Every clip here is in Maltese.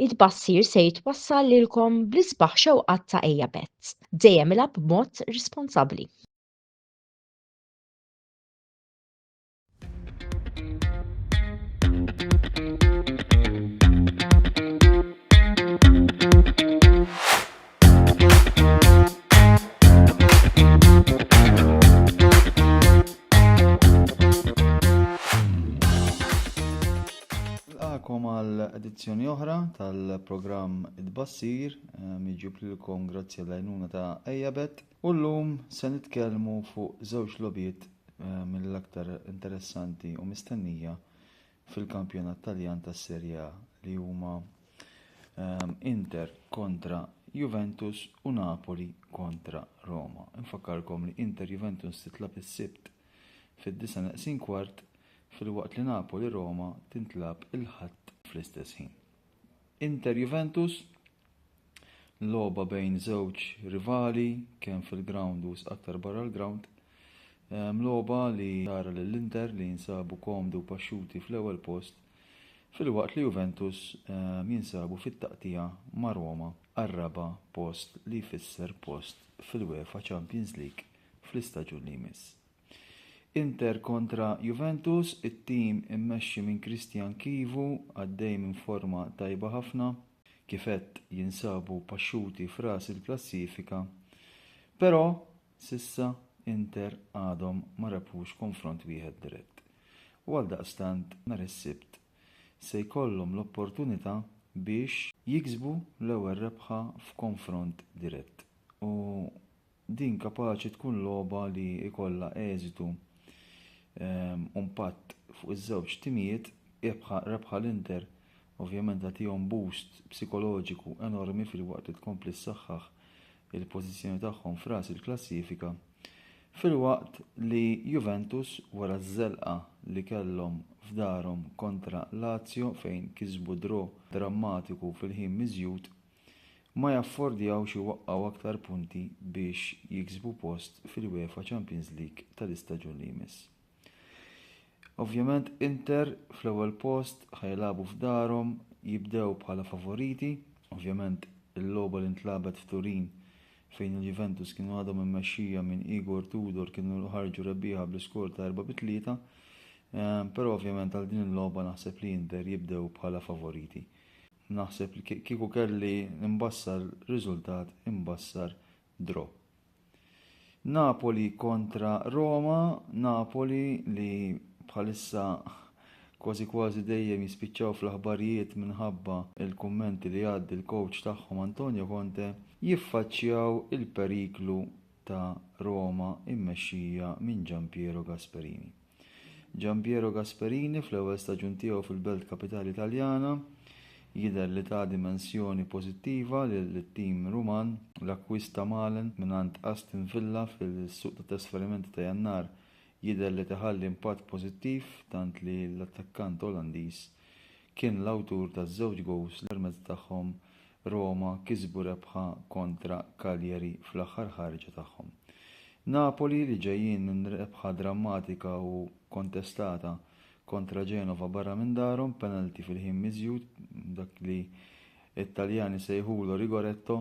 It-tbassir se jitwassal lilkom bl-isbaħ xewqat ta' Ejja Betts. Dejjem ilgħab b'mod responsabbli. Nilqakom għal edizzjoni oħra tal-programm Id-Bassir, eh, miġjub lilkom grazzi għall-għajnuna ta' Ejabet. U llum se nitkellmu fuq żewġ lobiet eh, mill-aktar interessanti u mistennija fil-kampjonat Taljan tas-Serie A li huma ehm, Inter kontra Juventus u Napoli kontra Roma. Infakkarkom li Inter Juventus titlab is-Sibt fid-disa neqsin kwart fil-waqt li Napoli Roma tintlab il-Ħadd fl-istess ħin. Inter Juventus, logħba bejn żewġ rivali kemm fil-grawnd u aktar barra l-grawnd. Ehm, logħba li tara lill-Inter li jinsabu komdu paxxuti fl-ewwel post filwaqt li Juventus ehm, jinsabu fit-taqtija ma' Roma għar-raba' post li jfisser post fil-UEFA Champions League fl-istaġun li jmiss. Inter kontra Juventus, it-tim immexxi minn Christian Chivu għaddej minn forma tajba ħafna, kif għedt jinsabu paxxuti f'ras il-klassifika, però s'issa Inter għadhom ma rebħux konfront wieħed dirett u għaldaqstant nhar is-Sibt se jkollhom l-opportunità biex jiksbu l-ewwel rebħa f'konfront dirett u Din kapaċi tkun logħba li jkollha eżitu u mpatt fuq iż-żewġ timijiet, rebħa l-Inter ovvjament tagħtihom boost psikoloġiku enormi filwaqt li tkompli ssaħħaħ il-pożizzjoni tagħhom f'ras il-klassifika, filwaqt li Juventus wara ż-żelqa li kellhom f'darhom kontra Lazio fejn kisbu draw drammatiku fil-ħin miżjud, ma jaffordjawx iwaqqgħu aktar punti biex jiksbu post fil-UEFA Champions League tal-istaġun li jmiss. Ovvjament Inter fl-ewwel post ħa jilagħbu f'darhom, jibdew bħala favoriti, ovvjament il-logħba li ntlagħbet f'Turin fejn il-Juventus kienu għadhom immexxija minn Igor Tudor kienu ħarġu rebbieħa bl-iskor ta' 4 bi 3, però ovvjament għal din il-logħba naħseb li Inter jibdew bħala favoriti. Naħseb li kieku kelli nbassar riżultat imbassar draw. Napoli kontra Roma, Napoli li bħalissa kważi kważi dejjem jispiċċaw fl-aħbarijiet minħabba il-kummenti li għaddi l-coach tagħhom Antonio Conte jiffaċċjaw il-periklu ta' Roma immexxija minn Giampiero Gasperini. Gianpiero Gasperini fl-ewwel staġun tiegħu fil-belt kapitali Taljana jidher li ta dimensjoni pożittiva lit-tim Ruman. L-akkwist ta' Malen mingħand Aston Villa fis-suq tat-trasferimenti ta' Jannar jidher li ta ħalli impatt pożittiv tant li l-attakkant Olandiż kien l-awtur ta' żewġ gowls li rmezz tagħhom Roma kisbu rebħa kontra Cagliari fl-aħħar ħarġa tagħhom. Napoli li ġejjin minn rebħa drammatika u kontestata kontra Genova barra minn darhom penalty fil-ħin miżjud, dak li t-Taljani sejħulu rigoretto,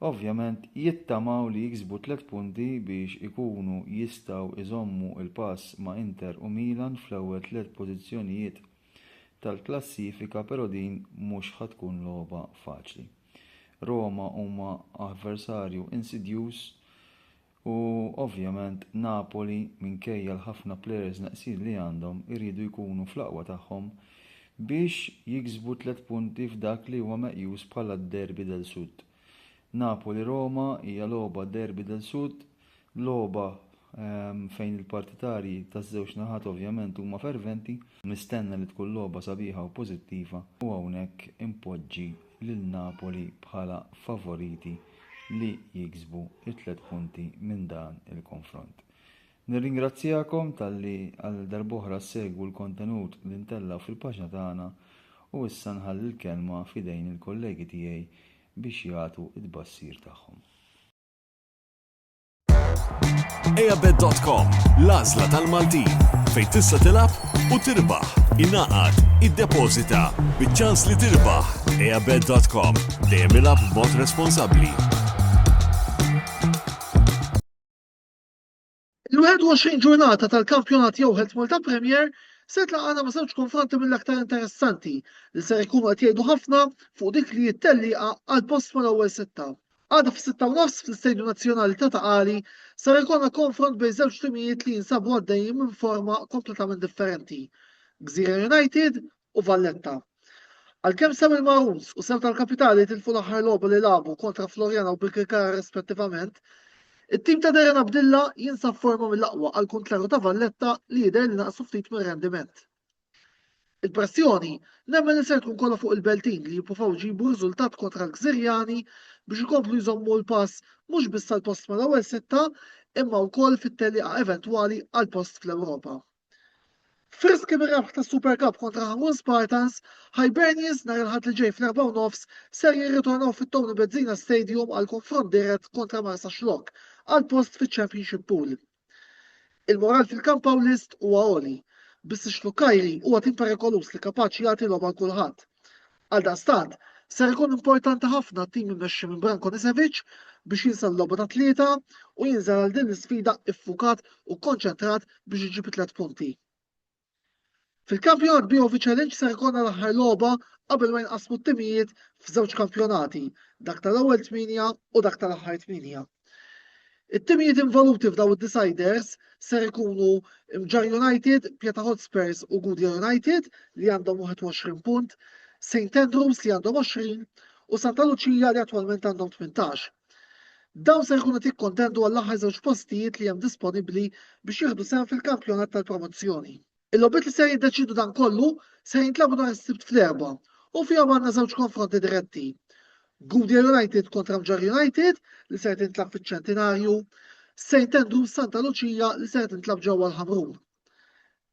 ovvjament jittamaw li jiksbu tliet punti biex ikunu jistgħu iżommu l-pass ma' Inter u Milan fl-ewwel tliet pożizzjonijiet. tal-klassifika pero din mhux ħa tkun logħba faċli. Roma huma avversarju insidjuż u ovvjament Napoli minkejja l-ħafna players neqsin li għandhom iridu jkunu fl-aqwa tagħhom biex jiksbu tliet punti f'dak li huwa meqjus bħala d-Derby del Sud. Napoli-Roma hija logħba derby del Sud, logħba fejn il-partitarji taż-żewġ naħat ovvjament huma ferventi. Nistenna li tkun logħba sabiħa u pożittiva u hawnhekk inpoġġi lil Napoli bħala favoriti li jiksbu t-tliet punti minn dan il-konfront. Nirringrazzjakom talli għal darb'oħra ssegwu l-kontenut li ntella' fil-paġna tagħna u issa nħalli l-kelma f'idejn il-kollegi tiegħi biex jagħtu t-tbassir tagħhom. Eabet.com, l-għażla tal-Maltin, fejn tista' tilgħab u tirbaħ, ingħaqad, iddepożita, biċ-ċans li tirbaħ. Eabet.com, dejjem ilgħab b'mod responsabbli. Il-21 ġurnata tal-kampjonat jew Health Malta Premier se tlaqana ma' żewġ konfronti mill-aktar interessanti li ser ikunu qed jgħidu ħafna fuq dik li hi t-tellieqa għal post mal-ewwel sitta. Għada fis-sitta u nofs fl-Istadium Nazzjonali ta' Ta' Qali ser ikollna konfront bejn żewġ timijiet li jinsabu għaddejjin minn forma kompletament differenti, Gżira United u Valletta. Għalkemm sew il-Magħrus u sew tal-Kapitali tilfu l-aħħar logħba li lagħbu kontra Floriana u Birkirkara rispettivament, it-tim ta' Darren Abdilla jinsab forma mill-aqwa għall-kuntrarju ta' Valletta li jidher li naqsu ftit mir-rendiment. Il-pressjoni nemmen li ser tkun kollha fuq il-Beltin li jippruvaw jġibu riżultat kontra l-Gżirjani biex ikomplu jżommu l-pass mhux biss għall-post mal-ewwel sitta imma wkoll fit-tellieqa eventwali għall-post fl-Ewropa. Frisk minn rebħ ta' Super Cup kontra Ħamun Spartans, Hibernians nhar il-Ħadd li ġej fl-erba' u nofs ser jirritornaw fit-Tony Bezzina Stadium għal konfront dirett kontra Marsa Xlokk għal post fiċ-Championship Pool. Il-moral fil-kamp Pawlist huwa għoli, biss ix-Xlukkajri huwa tim perikoluż li kapaċi jagħti logħba 'l kulħadd. Għaldaqstant, ser ikun importanti ħafna t-tim immexxi minn Branko Nisevic biex jinsa l-logħba ta' tlieta u jinżel għal din l-isfida iffukat u kkonċentrat biex iġib it-tliet punti. Fil-kampjonat BOV Challenge ser ikollna l-aħħar logħba qabel ma jinqasmu t-timijiet f'żewġ kampjonati, dak tal-ewwel tmienja u dak tal-aħħar tmienja. It-timijiet involuti f'dawn id-deciders ser ikunu Mġarr United, Pjata Hotspurs u Gudja United li għandhom 21 punt, St Andrews li għandhom 20 u Santa Luċija li attwalment għandhom 18. Dawn ser ikunu tikkontendu għall-aħħar żewġ postijiet li hemm disponibbli biex jieħdu sehem fil-kampjonat tal-promozzjoni. Il-logħbiet li ser jiddeċiedu dan kollu ser jintlagħbu nhar is-Sibt fl-Erbgħa u fihom għandna żewġ konfronti diretti. Gudja United kontra Mġarr United li ser tintlagħab fiċ-Ċentinarju, St. Andrews Santa Luċija li ser tintlagħab ġewwa l-Ħamrun.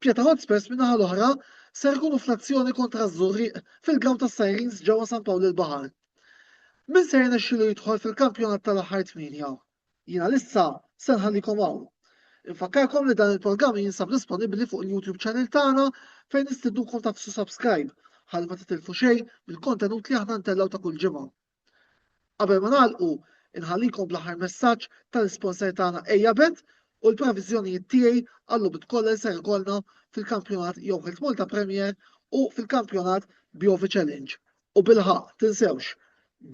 Pjeta Hotspurs min-naħa l-oħra ser ikunu fl-azzjoni kontra ż-Żurrieq fil-grawn tas-Sirens ġewwa San Pawl il-Baħar. Min ser jirnexxilu jidħol fil-kampjonat tal-aħħar tmienja? Jiena lissa se nħallikom hawn. Infakkarkom li dan il-programm jinsab disponibbli fuq il-YouTube channel tagħna fejn nistidnukom tagħfsu subscribe ħalli ma titilfu xejn mill-kontenut li aħna ntellgħu ta' kull ġimgħa. Qabel ma nagħlqu, inħallikom bl-aħħar messaġġ tal-isponsor tagħna Ejabet u l-previżjonijiet tiegħi għall-logħbiet kollha li ser ikollna fil-kampjonat jew Health Malta Premier u fil-kampjonat Biovi Challenge. U bilħaq, tinsewx,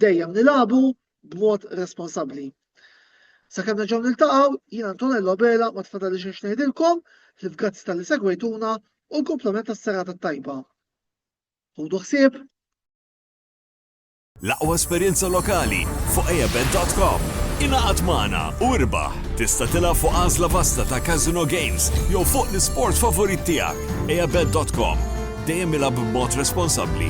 dejjem nilagħbu b'mod responsabbli. Sakemm nerġgħu niltaqgħu, jien Antonello Bela ma tfadali xejn ngħidilkom, ħlif grazzi tal-li segwejtuna u l-komplement tas-serata tajba. Ħudu ħsieb! L-aqwa esperjenza lokali fuq eabet.com. Ingħaqad magħna u irbaħ! Tista' tilgħab fuq għażla vasta ta' casino games jew fuq l-isport favorit tiegħek. eabet.com. Dejjem ilgħab b'mod responsabbli.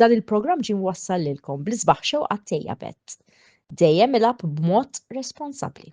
Dan il-programm ġie mwassal lilkom bl-isbaħ xewqat tiegħi Abed. Dejjem ilgħab b'mod responsabbli.